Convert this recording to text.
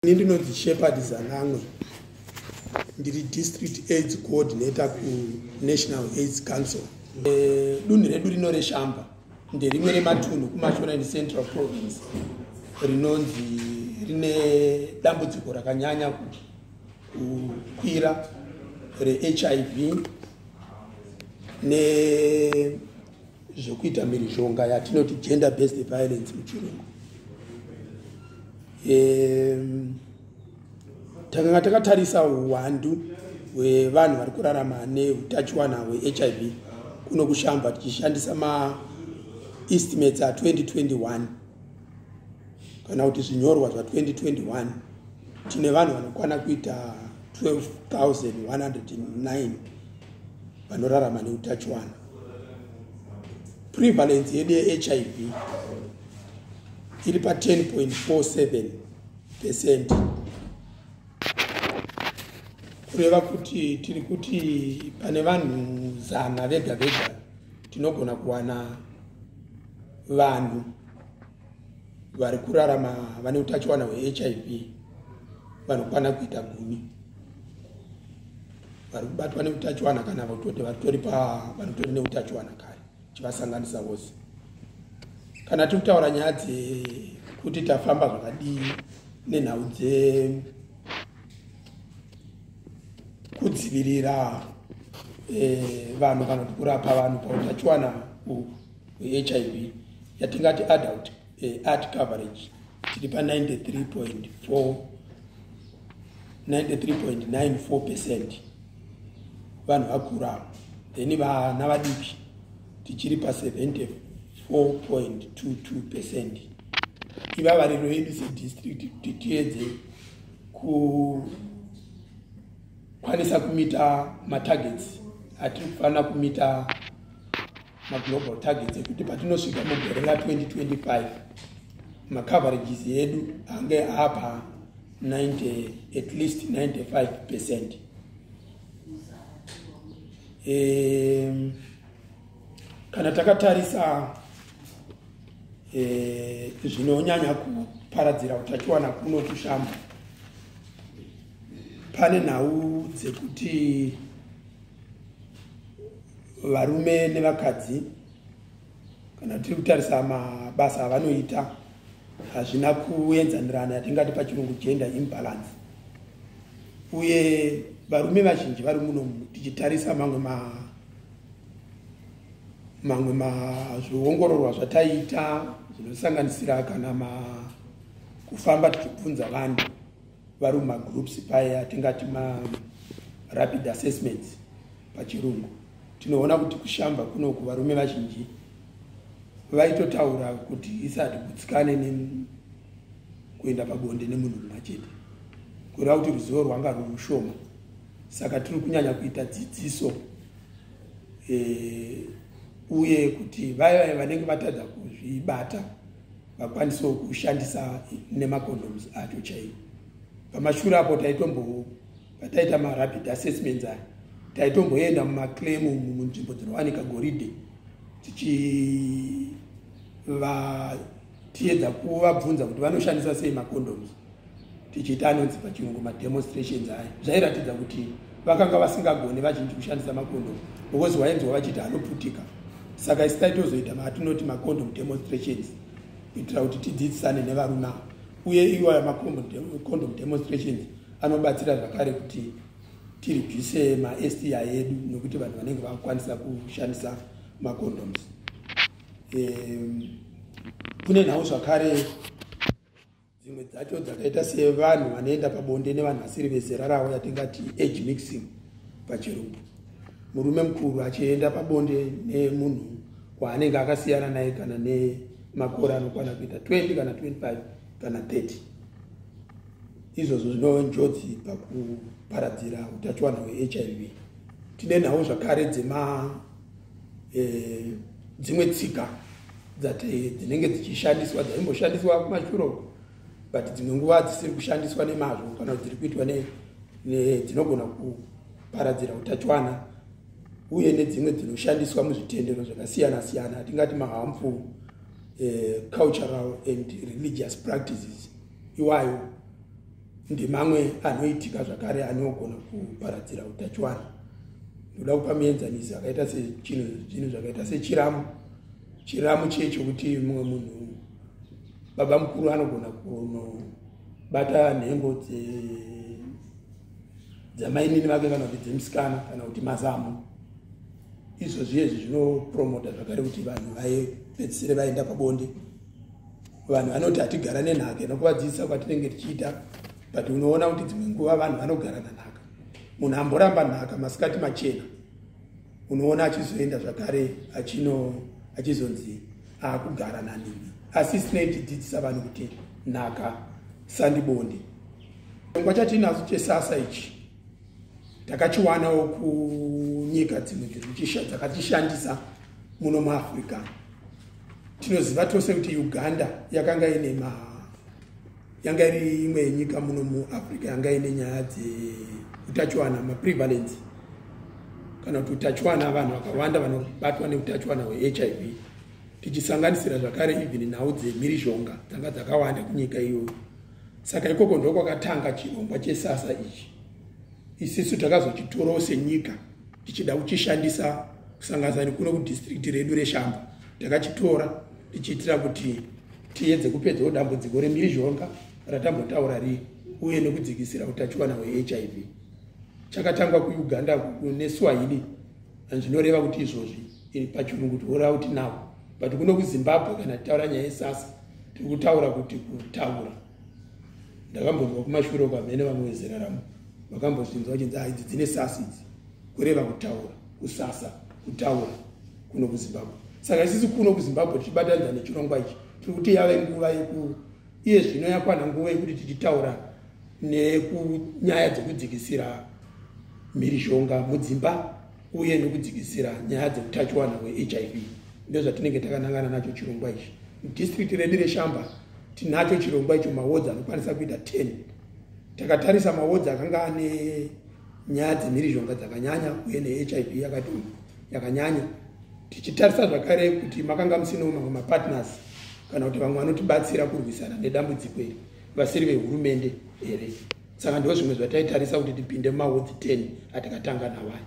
ini ndinonzi shepherd zanamwe ndiri district aids coordinator kunational aids council e, dunhu redu rino reshamba nderimwe rematunhu kumashonani central province rinonzi rine dambudziko rakanyanya kukwira rehiv ne zvekuita mhirizhonga yatinoti gender based violence muchirungu um, takanga takatarisa uwandu hwevanhu vari kurarama neutachiwana hwehiv kuno kushamba tichishandisa maestimates a2021 kana kuti zvinyorwa zva2021 tine vanhu vanokwana kuita 12109 vanorarama neutachiwana prevalence yedu yehiv iri pa 10.47 percent kureva kuti tiri kuti pane vanhu zana vega vega tinogona kuwana vanhu vari kurarama vane utachiwana hwehiv vanokwana kuita gumi vari kubatwa neutachiwana kana vototi vatori pavanotori neutachiwana kare chivasanganisa vose kana tiri kutaura nyaya dzekuti tafamba zvakadii nenhau dzekudzivirira eh, vanhu kana kuti kurapa vanhu pautachiwana uhu hwehiv yatingati adult eh, art coverage tiri pa 93.4 93.94 percent vanhu vakura then vana vadiki tichiri pa 74.22 percent ivavariro yedu sedistrict kuti tiedze kukwanisa kumita matargets atiri kufanira kumita maglobal targets ekuti patinosvika mugore ra 2025 macoverages edu ange apa 90 at least 95 percent um, kana takatarisa eh, zvinonyanya e, kuparadzira utachiwana kuno kushamba pane nhau dzekuti varume nevakadzi kana tiri kutarisa mabasa avanoita hazvina kuenzanirana yatingati pachirungu gender imbalance uye varume vazhinji vari muno tichitarisa mamwe ma mamwe mazviongororwa zvataiita zvinosanganisira kana ma kufamba tichibvunza vanhu vari mumagroups paya tingati marapid assessments pachirungu tinoona kuti kushamba kunoku varume vazhinji vaitotaura kuti isati gutsikane kuenda pabonde nemunhu mumwe chete kureva kuti ruzivo rwanga rwurushoma saka tiri kunyanya kuita dzidziso e, uye kuti vaya vanenge vatadza kuzvibata vakwanisewo kushandisa nemacondoms acho chaiwo pamashure apo taitombo pataita marapid assessments aya taitomboenda mumaclaim munzvimbo dzinowanika goridhe tichiva tiedza kuvabvunza kuti vanoshandisa sei macondoms tichiita anonzi pachirungu mademonstrations aya zvairatidza kuti vakanga vasingagone vazhinji kushandisa makondo because wainzwa vachiti anoputika saka isitai tozoita maatinoti macondom demonstrations kuitira kuti tidzidzisane nevarume ava uye iwayo macondom demonstrations anobatsira zvakare kuti tirwise masti edu nokuti vanhu vanenge vakukwanisa kushandisa macondoms kune nhau zvakare dzimwe dzacho dzakaita sevanhu vanoenda pabonde nevanhu vasiri vezera ravo yatingati age mixing pachirungu murume mukuru achienda pabonde nemunhu waanenge akasiyana naye kana nemakore anokwana kuita 20 kana 25 kana 30 izvozvo zvinove njodzi pakuparadzira utachiwana hwehiv tine nhau zvakare dzema eh, dzimwe tsika eh, dzinenge dzichishandiswa dzaimboshandiswa kumashure uko but dzimwe nguva dzisiri kushandiswa nemazvo kana kuti dziri kuitwa dzinogona kuparadzira utachiwana uye nedzimwe dzinoshandiswa muzvitendero zvakasiyana siyana hatingati mahamful eh, cultural and religious practices iwayo ndemamwe anoitika zvakare anogona kuparadzira utachiwana ndoda kupa mienzaniso yakaita sechinhu zvakaita sechiramu chiramu chiye chokuti mumwe munhu baba mukuru anogona kunobata nhengo dzamainini vake kana kuti dzemusikana kana kuti mazamu izvo zviye izvi zvinopromota zvakare kuti vanhu vaepedzisire vaenda pabonde vanhu vanoti hatigara nenhaka inokuvadzidzisa kwatinenge tichiita but unoona kuti dzimwe nguva vanhu vanogara nanhaka munhu amboramba nhaka masikati machena unoona achizoenda zvakare achino achizonzi akugara nanini asi sinei tidzidzisa vanhu kuti nhaka sandibonde chirongwa chatinacho chesasa ichi takachiwanawo kunyika dzimwe dziri kuchisha dzakatishandisa muno muafrica tinoziva tose kuti uganda yakanga ine ma yanga iri imwe yenyika muno muafrica yanga ine nyaya dzeutachiwana maprevalence kana kuti utachiwana vanhu vakawanda vanobatwa neutachiwana hwehiv tichisanganisira zvakare even nhau dzemhirizhonga dzanga dzakawanda kunyika iyoyo saka ikoko ndokwakatanga chirongwa chesasa ichi isisu takazochitorawo senyika tichida kuchishandisa kusanganisa nekuno kudistrikti redu reshamba takachitora tichiitira kuti tiyedze kupedzawo dambudziko remhirizhonga ratambotaura rii uye nekudzikisira utachiwana hwehiv chakatangwa kuuganda neswahili zvinoreva kuti izvozvi pachirungu tinoreva kuti now but kuno kuzimbabwe kana titaura nyaya yesasa tiri kutaura kuti kutaura ndakambonzwa kumashure uko amene vamwe vezera ramo vakambozvinzwa vachinzi haidzi dzine sasa idzi kureva kutaura kusasa kutaura kuno kuzimbabwe saka isisi kuno kuzimbabwe tichibatanidza nechirongwa ichi tiri kuti yave nguva yeku iye zvino yakwana nguva yekuti tichitaura nekunyaya dzekudzikisira mhirizhonga mudzimba uye nekudzikisira nyaya dzeutachiwana hwehiv ndozvatinenge takanangana nacho chirongwa ichi mudistrikti redu reshamba tinacho chirongwa icho mawodzi anokwanisa kuita 10 takatarisa mawodzi akanga ane nyaya dzemhirizhonga dzakanyanya uye nehiv yakatoma yakanyanya tichitarisa zvakare kuti makanga musinawo mamwe mapartners kana kuti vamwe vanotibatsira kurwisana nedambudziko iri vasiri vehurumende here saka ndo zvimwe zvataitarisa kuti tipinde mumahodzi 10 atakatanga nawaya